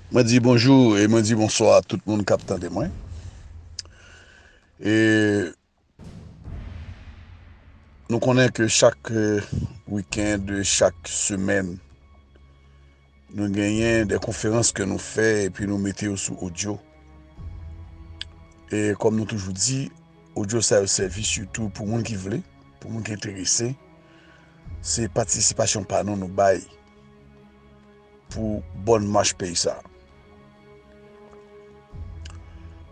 Mwen di bonjou e mwen di bonswa a tout moun kap tande mwen. E nou konnen ke chak weekend, chak semen. Nou genyen de konferans ke nou fè epi nou mete yo sou odyo. E kom nou toujou di, odyo sa yo sèvi sitou pou moun ki vle, pou moun ki enterese. Se patisipasyon pa nou nou bay pou bon mach peyi sa.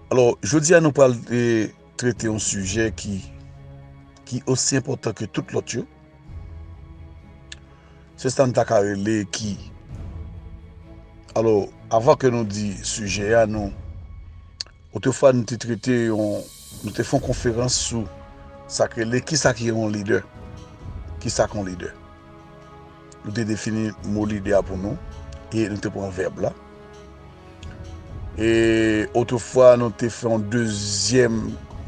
Alò, jodi a nou pral trete yon sijè ki ki osi enpòtan ke tout lòt yo. Se sa n ta ka rele ki. Alò, avan ke nou di sijè a nou, otefwa nou te trete yon, nou te fè yon konferans sou sa ki rele, kisa ki yon lidè? Kisa ki yon lidè? Nou te defini mo lide a pou nou e nou te pran vèb la. E otrefwa nou te fè yon dezyèm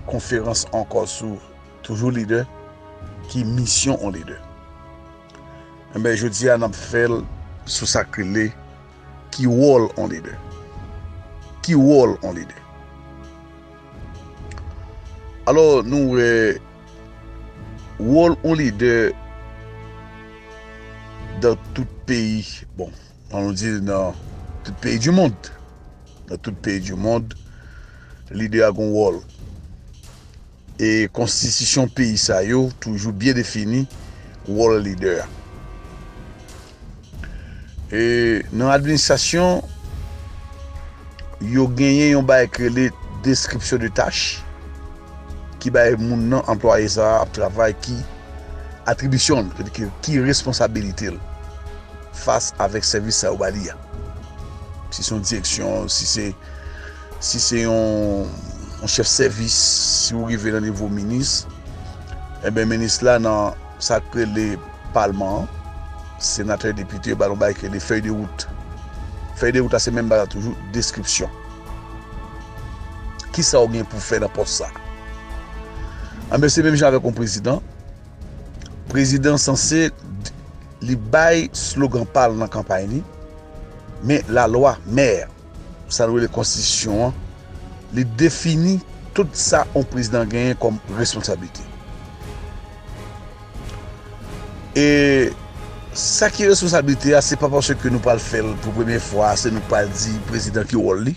konferans ankò sou toujou lide ki misyon yon lide. Enben jodi a nap fè l sou sa k rele ki wòl yon lide. Ki wòl yon lide? Alò nou wè. Wol yon lidè dan tout peyi bon an nou di nan tout peyi di mond nan tout peyi di mond lidè a gon wol e konstitisyon peyi sa yo toujou byen defini wol lidè a. E nan administrasyon, yo genyen yon bay ki rele deskripsyon de tach ki bay moun nan anplwaye sa ap travay ki atribisyon l, ki responsabilite l fas avèk sèvis sa yo ba li a. Si se yon direksyon, si se yon chèf sèvis, si ou rive nan nivo minis, e ben minis la nan... Sa k rele palman an, senatè, depite yo ba nou bagay ki rele fèy de wout. Fèy de wout la se menm bagay la toujou, deskripsyon. Kisa ou gen pou fè nan pòs sa? Anben se menm jan avèk yon prezidan, prezidan sanse li bay slogan pa l nan kanpay li, men lalwa, mè. sa nou rele konstitisyon an, li defini tout sa yon prezidan genyen kòm responsablite. E sa ki responsablite a, se pa paske nou pral fè l pou premye fwa, se nou k pral di prezidan ki wòl li.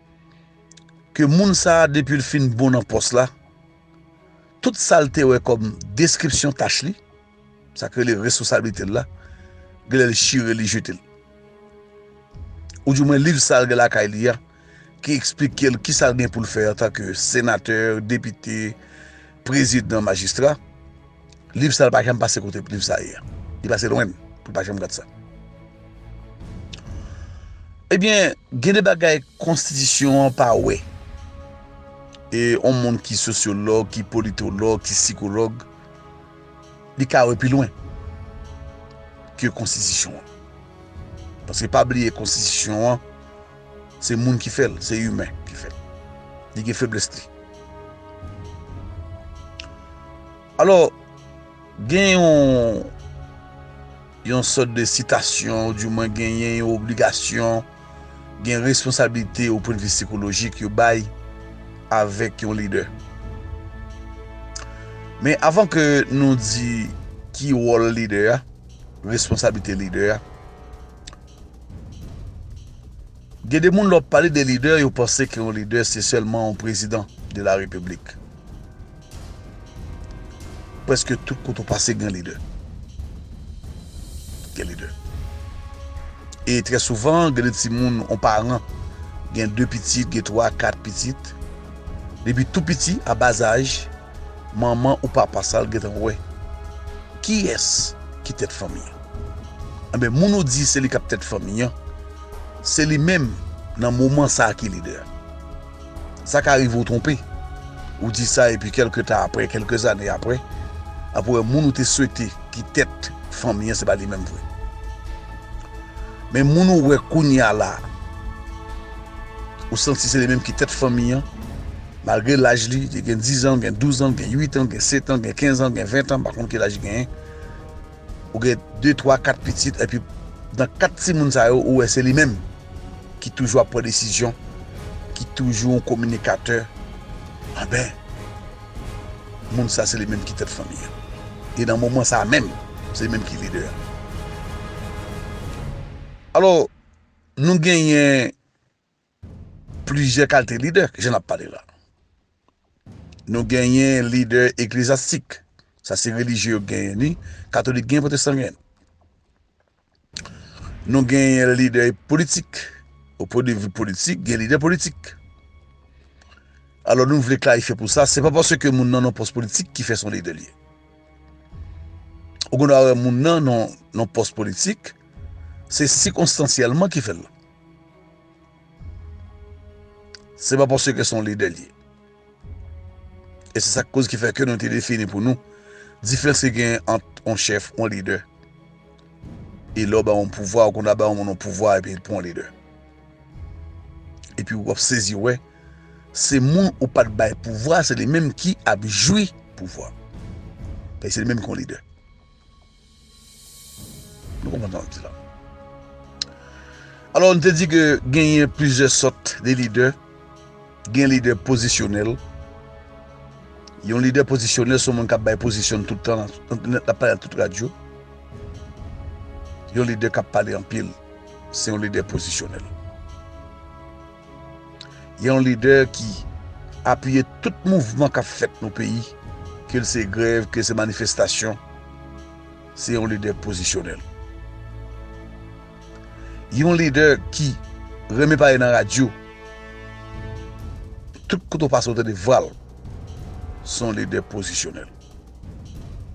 ke moun sa depil fin bon nan pòs la tout sal te wè kòm deskripsyon tach li sak rele responsablitel la genlèl chire li jetel ou di mwen liv sal gen lakay li a ki esplikel kisal gen poul fè antanke senatè depite Prezidan majistra, liv sa pa janm pase kote liv sa ye. Li pase lwen pou pa janm gad sa. Ebyen, gen de bagay konstitisyon an pa wè. E yon moun ki sosyolog, ki politolog, ki sikolog, li ka wè pi lwen ke konstitisyon an. Paske pa bliye konstitisyon an, Se moun ki fèl, se imen ki fèl. Li gen feblès li. Alò, gen yon yon sòt de sitasyon, di mwen gen yon obligasyon, gen responsabilite ou pwèn vi sikolojik yo bay avèk yon lidè. Men avan ke nou di ki wòl lidè a, responsabilite lidè a, Gen de moun lè wap pale de lidè yo panse ke yon lidè se sèlman yon prezidan de la repiblik. Preske tout kote ou pase gen lidè. Gen lidè. E trè souvan gen de timoun yon paran gen 2 pitit, gen 3, 4 pitit. Depi tou piti a bas âge. Manman ou papa sal gentan wè kiyès ki tèt fanmi an enben moun ou di se li kap tèt fanmi an se li menm nan moman sa ki lidè a sa ka rive ou twonpe ou di sa epi kelke tan aprè kelke zane aprè ap wè moun ou te swete ki tèt fanmi an se pa li menm vre men moun ou wè kounya la ou santi se li menm ki tèt fanmi an. Malgre laj li, li gen dizan, li gen douzan, li gen uitan, li gen setan, li gen kenzan, li gen ventan, m pa konn ki laj li genyen. Ou gen de, twa, kat pitit epi nan kat timoun sa yo ou wè se li menm ki toujou ap pran desizyon, ki toujou yon kominikatè. Anben, moun sa se li menm ki tèt fanmi an. E nan moman sa menm, se li menm ki lidè a. Alò, nou genyen Plizyè kalte lidè jan nap pale la. Nou genyen lidè eklezyastik, sa se relijye yo genyen ni, katolik genyen pwotestan genyen. Nou genyen lidè politik, o pwen de vi politik gen lidè politik. Alò nou vle klarifye pou sa, se pa paske moun nan nan pòs politik ki fè son lidè li ye. Ou gen dwa wè moun nan nan pòs politik, se sikonstansyèlman ki fèl la. Se pa paske ke son lidè li ye. E se sak koz ki fè ke nou te defini pou nou, diferans ki genyen ant on chèf, on lidè, e lè w bay on pouvwa, ou konn ta bay on moun on pouvwa epi l pran on lidè. Epi w ap sezi wè, se moun ou pat bay pouvwa, se li menm ki ap jwi pouvwa. Paske se li menm ki on lidè. Nou konprann sa m di la. Alò m te di ke genyen plizyè sòt de lidè. Gen lidè pozisyonèl. Yon lidè pozisyonèl se yon moun k ap bay pozisyon l tout tan, l ap pale nan tout radyo. Yon lidè k ap pale anpil se yon lidè pozisyonèl. Yon lidè ki apiye tout mouvman kap fèt nan peyi, ke l se grèv, ke l se manifestasyon, se yon lidè pozisyonèl. Yon lidè ki renmen pale nan radyo, tout kote ou pase ou tande vwa l, se yon lidè pozisyonèl.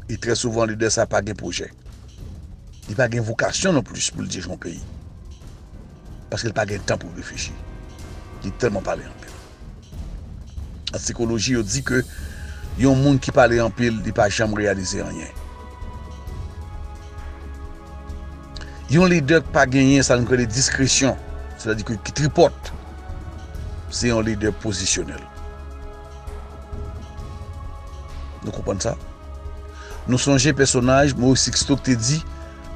E trè souvan lidè sa pa gen pwojè. Li pa gen vokasyon non plis pou l dirije yon peyi. Paske li pa gen tan pou reflechi. Li tèlman pale anpil. An sikoloji yo di ke yon moun ki pale anpil li pa janm reyalize anyen. Yon lidè ki pa genyen sa nou rele diskresyon, se ta di ki tripòt, se yon lidè pozisyonèl. Nou konprann sa? Nou sonje pèsonaj Moris Siksto ki te di.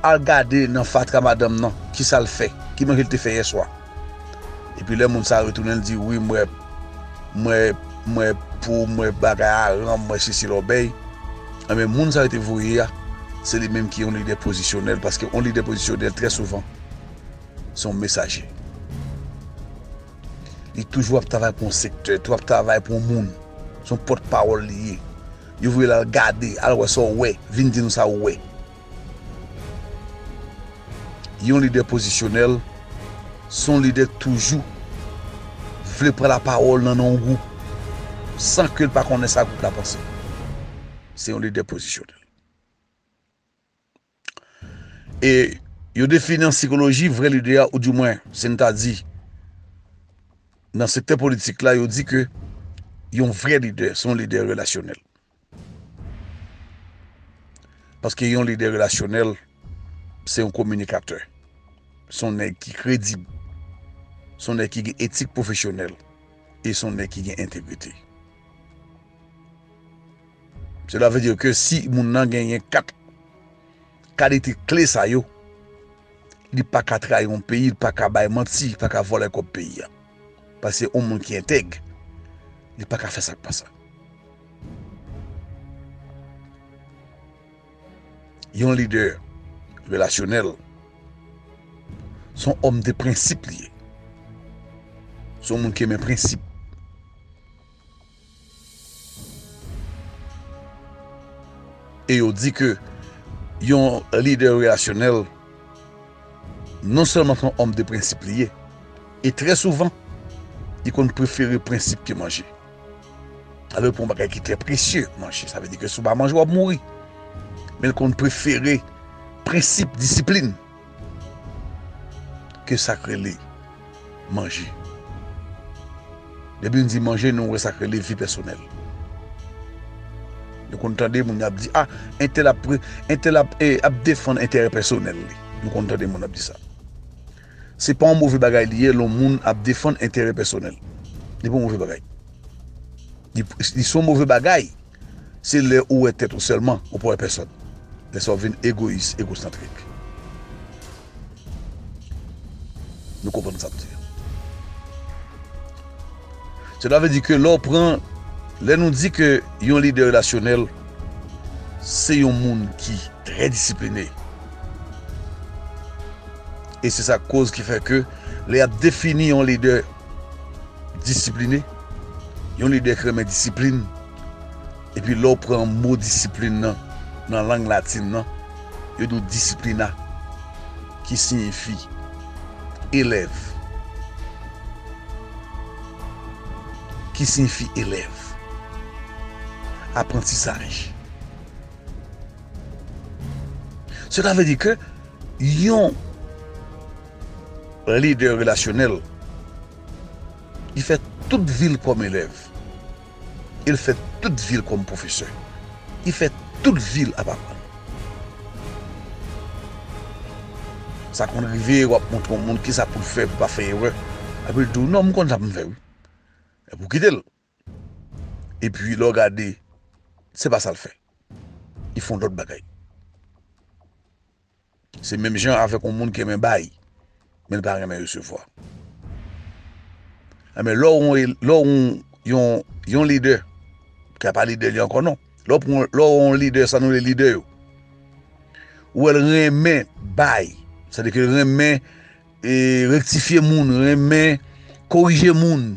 Al gade nan fatra madanm nan kisal fè, ki manje li te fè yèswa. Epi lè moun sa retounen li di wi mwen mwen mwen pou mwen bagay a ranm mwen sesi lòbèy enben moun sa yo te voye a se li menm ki yon lidè pozisyonèl paske yon lidè pozisyonèl trè souvan se yon mesaje li toujou ap travay pou yon sektè toujou ap travay pou yon moun se yon pòt pawòl li ye yo voye l al gade al wè sa w wè vin di nou sa ou wè. Yon lidè pozisyonèl se yon lidè ki toujou vle pran lapawòl nan non yon gwoup san ke l pa konnen sa gwoup la panse. Se yon lidè pozisyonèl. E yo defini an sikoloji vrè lidè a ou di mwen si n ta di nan sektè politik la yo di ke yon vrè lidè se yon lidè relasyonèl. Paske yon lidè relasyonèl, se yon kominikatè. Se yon nèg ki kredib. Se yon nèg ki gen etik pwofesyonèl. E se yon nèg ki gen entegrite. Sela vle di ke si moun nan genyen 4. Kalite kle sa yo, li pa ka trayi yon peyi, li pa ka bay manti, li pa ka vòlè kòb peyi a. Paske yon moun ki entèg, li pa ka fè sa k pa sa. Yon lidè relasyonèl, se yon òm de prensip li ye. Se yon moun ki renmen prensip. E yo di ke yon lidè relasyonèl non sèlman se yon òm de prensip li ye, e trè souvan li konn prefere prensip ke manje. Alò pou yon bagay ki trè presye, manje, sa vle di ke si w pa manje w ap mouri. Men l konn prefere prensip, disiplin. ke sak rele manje. Depi nou di manje nou wè sak rele vi pèsonèl. Nou konn tande moun ap di a entèl ap pre entèl ap e ap defann enterè pèsonèl li. Nou konn tande moun ap di sa. Se pa yon move bagay li ye lè yon moun ap defann enterè pèsonèl. Li pa yon move bagay. Li son move bagay. Se lè ou wè tèt ou sèlman ou pa wè pèsòn. Lè sa ou vin egoyis, egosantrik. Nou konprann sa m di an? Sela vle di ke lè ou pran, lè nou di ke yon lidè relasyonèl se yon moun ki trè disipline. E se sa k koz ki fè ke lè y ap defini yon lidè Disipline, Yon lidè ki renmen disiplin, epi lè w pran mo disiplin nan nan lang latin nan, yo di w disciplina, ki siyifi elèv. Ki siyifi elèv, aprantisaj. Sela vle di ke yon. Lidè relasyonèl, li fè tout vi l kòm elèv e l fè tout vi l kòm pwofesè. Li fè tout vi l ap aprann. Sa konn rive w ap montre yon moun ki sa pou l fè pou l pa fè erè, epi l di w, non, m konn sa pou m fè wi. Epi w kite l. E pi lè w gade, se pa sa l fè. Li fè yon lòt bagay. Se menm jan avèk yon moun ki renmen bay, men l pa renmen resevwa. Enben, lè w yon, yon lidè, ki a pa lidè li ankò non, lè w pran, lè w yon lidè, sa nou rele lidè yo, ou wè l renmen bay, sa vle di ke l renmen rektifye moun, renmen korije moun.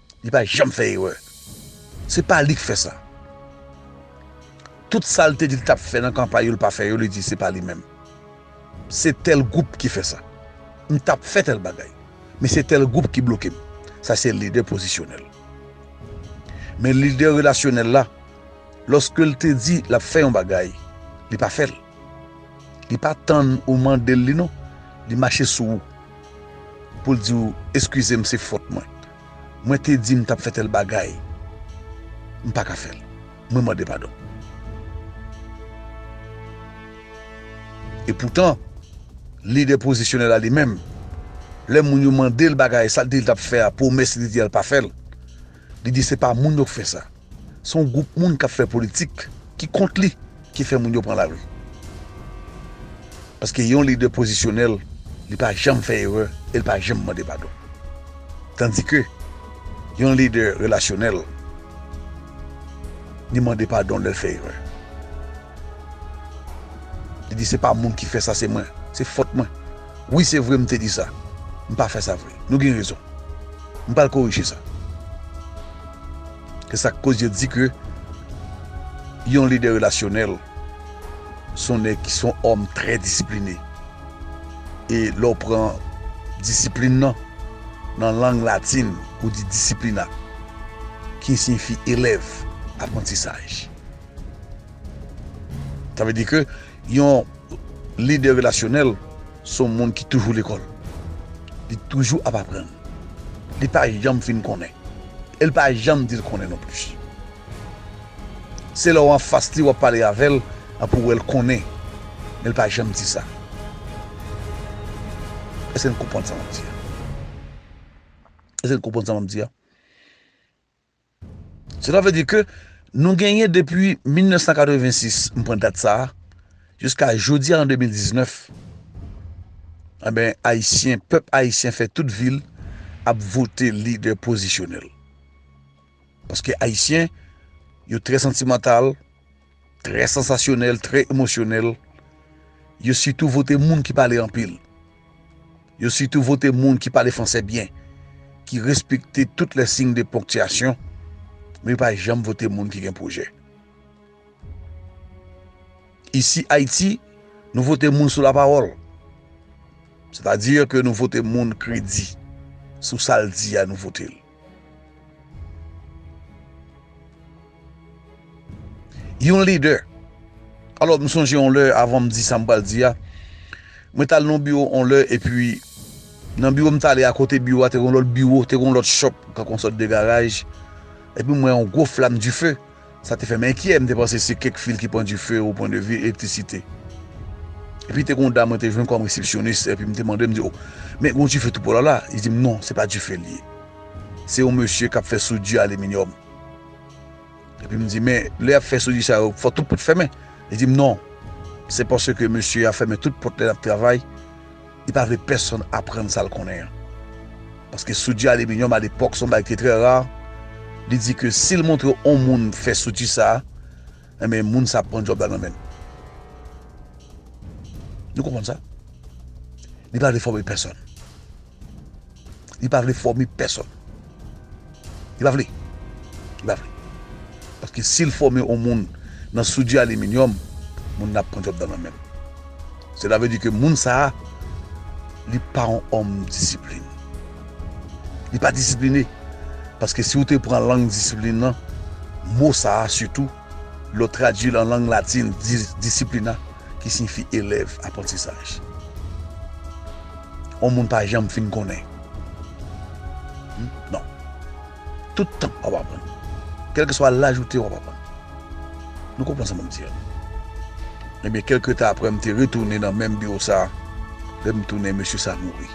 Li pa janm fè erè. Se pa li k fè sa. Tout sa l te di l t ap fè nan kanpay yo l pa fè yo, li di se pa li menm. Se tèl gwoup ki fè sa. M t ap fè tèl bagay. Men se tèl gwoup ki bloke m. Sa se lidè pozisyonèl. Men lidè relasyonèl la, lòske l te di l ap fè yon bagay, li pa fè l. Li pa tann ou mandel li non li mache sou ou poul diw eskizem se fòt mwen mwen te di mtap fè tèl bagay mpaka fèl mwen mande padon epoutan lidè pozisyonèl la li menm lè moun yo mandel bagay sal te di ltap fè a pwomès li di al pa fèl Li di se pa moun yo k fè sa. Se yon gwoup moun k ap fè politik ki kont li ki fè moun yo pran lari. Paske yon lidè pozisyonèl, li pa janm fè erè e li pa janm mande padon. Tandike yon lidè relasyonèl, li mande padon lè l fè erè. Li di se pa moun ki fè sa se mwen, se fòt mwen. Wi se vre m te di sa, m pa fè sa vre. Nou gen rezon. M pral korije sa. Se sa k koz yo di ke yon lidè relasyonèl se yon nèg ki se yon òm trè disipline. E lè w pran disiplin nan, nan lang latin ou di disciplina ki siyifi elèv, aprantisaj. Sa vle di ke yon lidè relasyonèl se yon moun ki toujou lekòl. Li toujou ap aprann. Li pa janm fin konnen. E li pa janm di l konnen non plis. Se lè w anfas li w ap pale avè l a pou w wè l konnen. Men li pa janm di sa. Èske n konprann sa m ap di a? Èske n konprann sa m ap di a? Sela vle di ke nou genyen depi 1986, m pran dat sa a, jiska jodi a an 2019, anben Ayisyen, pèp Ayisyen fè tout vi l ap vote lidè pozisyonèl. Paske Ayisyen yo trè santimantal. Trè sansasyonèl, trè emosyonèl. Yo sitou vote moun ki pale anpil. Yo sitou vote moun ki pale franse byen, ki respekte tout lè sign de ponktiyasyon, men yo pa janm vote moun ki gen pwojè. Isi Ayiti, nou vote moun sou lapawòl. Sètadi ke nou vote moun kredi sou sa l di a nou vote l. Yon lidè. Alò m sonje yon lè avan m di sa m pral di a, mwen t al nan yon biwo yon lè epi nan biwo m t ale a akote biwo a te gen yon lòt biwo, te gen yon lòt chòp, tankou yon sòt de garaj epi m wè yon gwo flam dife. Sa te fè m enkyè, m te panse se kèk fil ki pran dife o pwen de vi elektrisite. Epi te gen yon dam mwen te jwenn kòm resepsyonis, epi m te mande, m di, o, men gen yon dife tou polo la? Li di m, non, se pa dife li ye. Se yon mesye k ap fè soudi aliminyòm. Epi m di, men, lè y ap fè soudi sa yo, fò tout pòt fèmen? Li di m, non, se paske mesye a fèmen tout pòt lè l ap travay. Li pa vle pèsonn aprann sa l konnen an. Paske soudi aliminyòm alepòk se yon bagay ki te trè ra, li di ke si l montre yon moun fè soudi sa a, enben moun sa a ap pran djòb la nan men l. Nou konprann sa? Li pa vle fòme pèsonn. Li pa vle fòme pèsòn. Li pa vle. Li pa vle. Paske si l fòme yon moun nan soudyi aliminyòm, moun nan ap pran djòb nan men menm. Sela vle di ke moun sa a, li pa yon òm disiplin. Li pa disipline. Paske si ou te pran lang disiplin nan, mo sa a sitou, lè w tradui l an lang latin, disciplina, ki siyifi elèv, aprantisaj. yon moun pa janm fin konnen. Non. Tout tan wap aprann. Kelke swa laj ou te wap aprann. Nou konprann sa map di an. Ebyen kelke tan apre m te retounen nan menm biwo sa, lè m tounen mesye sa mouri.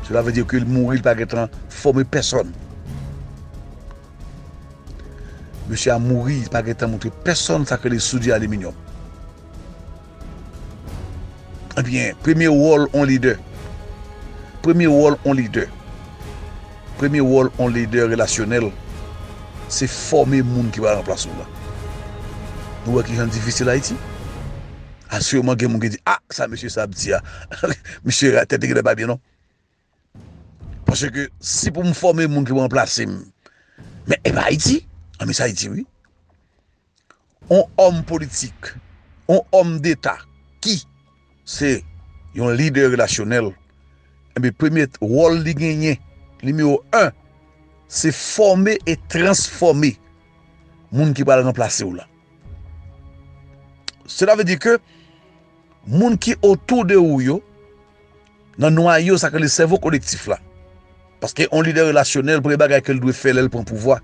Sela vle di ke li mouri li pa gentan fòme pèsòn. Mesye a mouri li pa gentan montre pèsòn sa ki rele soudye aliminyòm. Ebyen, premye wòl on lidè. Premye wòl on lidè. Premye wòl on lidè relasyonèl, se fòme moun ki pral anplas ou lan. Nou wè kijan l difisil Ayiti? Asirèman gen moun ki di, a, sa mesye sa ap di a, misye tèt li genlè pa byen non. Paske si pou m fòme moun ki pou ranplase m, men e pa Ayiti, an men se Ayiti wi. On òm politik, on òm deta ki se yon lidè relasyonèl, e bi premye wòl li genyen, nimewo 1, se fòme e transfòme moun ki pral ranplase w la. Sela ve di ke moun ki otou de ou yo, nan nwayo sa k rele sèvo kolektif la paske yon lidè relasyonèl premye bagay ke l dwe fè lè l pran pouvwa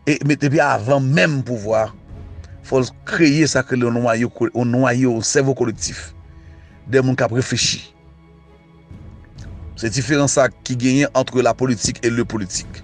e depi avan menm pouvwa fò l kreye sa k rele yon nwayo yon nwayo yon sèvo kolektif de moun k ap reflechi se diferans sa ki genyen antre la politik e le politik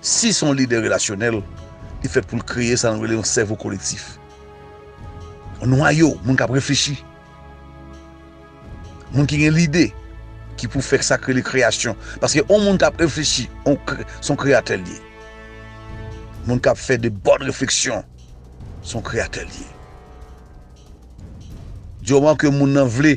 Si se yon lidè relasyonèl, li fèt pou l kreye sa nou rele yon sèvo kolektif. Yon nwayo moun k ap reflechi, moun ki gen lide, ki pou fè sa k rele kreyasyon. Paske yon moun k ap reflechi, se yon kreyatè l ye. Moun k ap fè de bòn refleksyon, se yon kreyatè l ye. Di moman ke moun nan vle.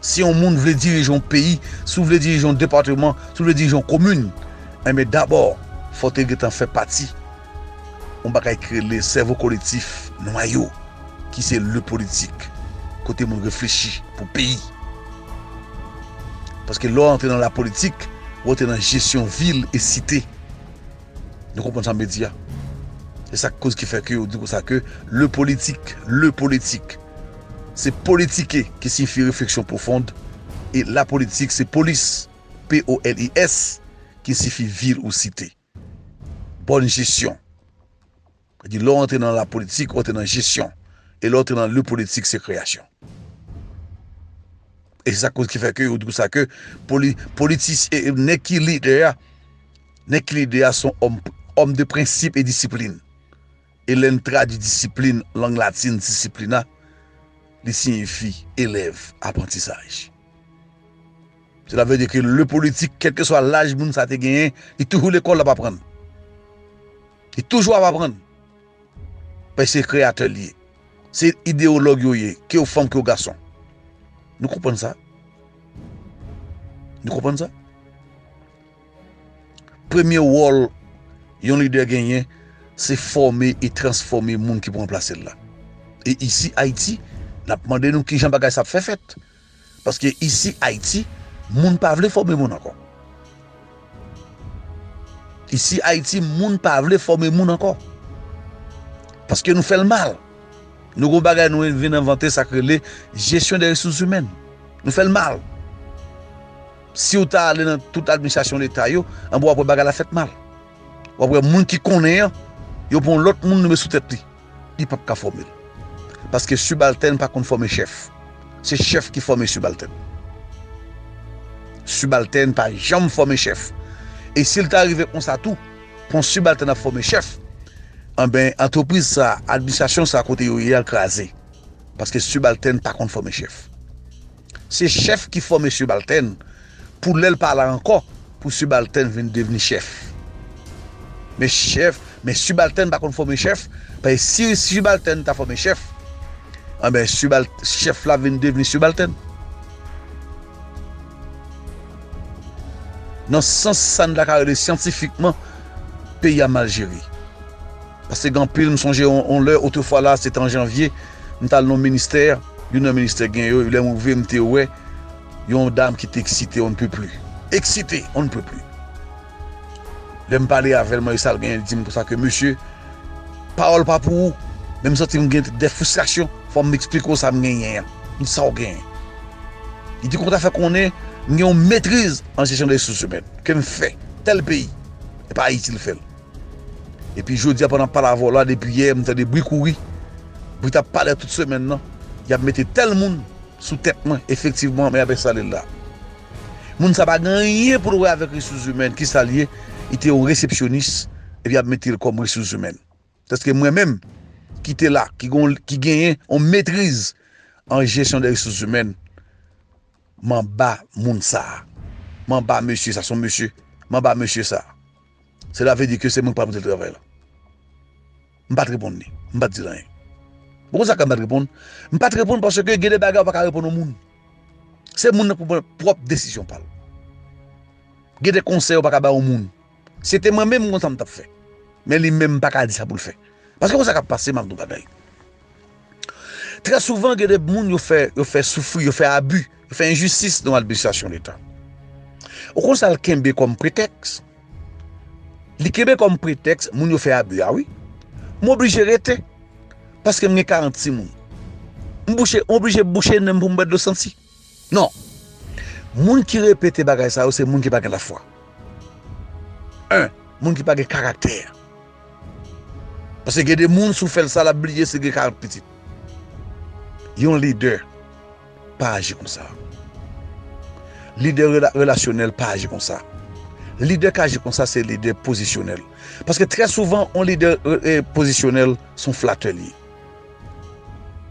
Si yon moun vle dirije yon peyi, si w vle dirije yon depateman, si w vle dirije yon komin, enben dabò fò w te gentan fè pati yon bagay ki rele sèvo kolektif, nwayo, ki se le politik. Kote moun reflechi pou peyi. Paske lè w antre nan la politik, ou antre nan jesyon vil e site. Nou konprann sa mwen di a? E sak koz ki fè ke yo di konsa ke le politik, le politik se politike ki siyifi refleksyon pwofond e la politik se polis, p-o-l-i-s, ki siyifi vil ou site. Bòn jesyon. Sa di lè w antre nan la politik, ou antre nan jesyon. E lè w antre nan le politik, se kreyasyon. E se sa koz ki fè ke yo di konsa ke politis, nèg ki lidè a, nèg ki lidè a son òm, òm de prensip e disiplin. E lè n tradui disiplin, lang latin disciplina, li siyifi elèv, aprantisaj. Sela vle di ke le politik, kèlkeswa laj moun sa te genyen, li toujou lekòl l ap aprann. Li toujou ap aprann. Paske se kreyatè li ye. Se ideyològ yo ye. Ke yo fanm, ke yo gason. Nou konprann sa? Nou konprann sa? Premye wòl yon lidè genyen, se fòme e transfòme moun ki pou ranplase l la. E isi Ayiti, n ap mande nou kijan bagay sa ap fè fèt? Paske isi Ayiti moun pa vle fòme moun ankò. Isi Ayiti moun pa vle fòme moun ankò. Paske nou fèl mal. Nou gon bagay nou vin envante sak rele jesyon de resous imèn. Nou fèl mal. Siw ta ale nan tout administrasyon leta yo, anba wap wè bagay la fèt mal. Wap wè moun ki konnen an, yo pran yon lòt moun yo met sou tèt li. Li pap ka fòme l. Paske sibaltèn pa konn fòme chèf. Se chèf ki fòme sibaltèn. Sibaltèn pa janm fòme chèf. E si l ta rive konsa tou, pou yon sibaltèn ap fòme chèf, anben antrepriz sa, administrasyon sa kote yo ye a l kraze. Paske sibaltèn pa konn fòme chèf. Se chèf ki fòme sibaltèn pou lè l pa la ankò pou sibaltèn vin devni chèf. Men chèf, men sibaltèn pa konn fòme chèf, paske si sibaltèn ta fòme chèf, anben sibal, chèf la vin devni sibaltèn. Nan sans sa n ta ka rele syantifikman peyi a mal jere. Paske gen anpil, m sonje yon lè, otrefwa la se te an janvye, m t al nan yon ministè, youn nan ministè gen yo, lè m rive m te wè yon dam ki te eksite on ne peut plus, eksite on ne peut plus. Lè m pale avè l, m mande l sa l genyen, li di m konsa ke mesye, pawòl pa pou ou, men m santi m gen dè fristrasyon, fò m esplike w sa m genyen an. M di sa w genyen? Li di kòman w ta fè konnen m gen yon metriz an jesyon de resousèmen, ke m fè tèl peyi, e pa Ayiti l fè l. Epi jodia pandan palavò la depi yè m tande bri kouri, bri tap pale tout semèn nan, yap mete tèl moun sou tèt mwen efektivman men yap enstale l la. Moun sa pa gen anyen pou l wè avèk resouzimèn kisa l ye, li te yon resepsyonis epi yap mete l kòm resouzimèn. Tanske mwen menm ki te la ki genyen yon metriz an jesyon de resouzimèn. Manba moun sa. Manba mesye sa. Son mesye. Manba mesye sa. Sela vle di ke se mwen ki pral pote travay la. M pat reponn li. M pat dil anyen. Ou konn sa ke m pat reponn? M pat reponn paske gen de bagay ou pa ka reponn yon moun. Se moun nan ki pou pran pwòp desizyon pa l. Gen de konsèy ou pa ka bay yon moun. Se te mwen menm m konn sa m tap fè men li menm m paka di sa poul fè paske konsa kap pase map di w bagay trè souvan gen de moun yo fè yo fè soufri yo fè abi yo fè enjistis nan administrasyon leta ou konn sa l kenbe kòm pretèks li kenbe kòm pretèks moun yo fè abi a wi m oblije rete paske m gen 40 timoun m bouche m oblije bouche nen m pou m bwè dlo santi. Non Moun ki repete bagay sa yo se moun ki pa gen lafwa 1 Moun ki pa gen karaktè Paske gen de moun si w fè l sa l ap bliye si l gen 40 pitit Yon lidè pa aji konsa Lidè relasyonèl pa aji konsa Lidè k aji konsa se lidè pozisyonèl Paske trè souvan yon lidè pozisyonèl se yon flatè li ye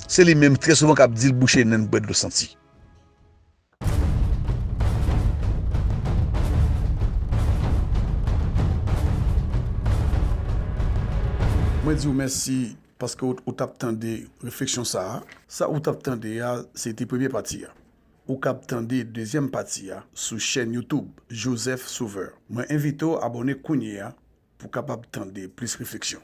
Se li menm trè souvan kap dil bouche nenl bwè dlo santi. Mwen diw mèsi paske ou tap tande refleksyon sa a. Sa ou tap tande a se te premye pati a. Ou kab tande dezyèm pati a sou chèn YouTube Joseph Sauveur. Mwen envite w abòne kounye a pou kapab tande plis refleksyon.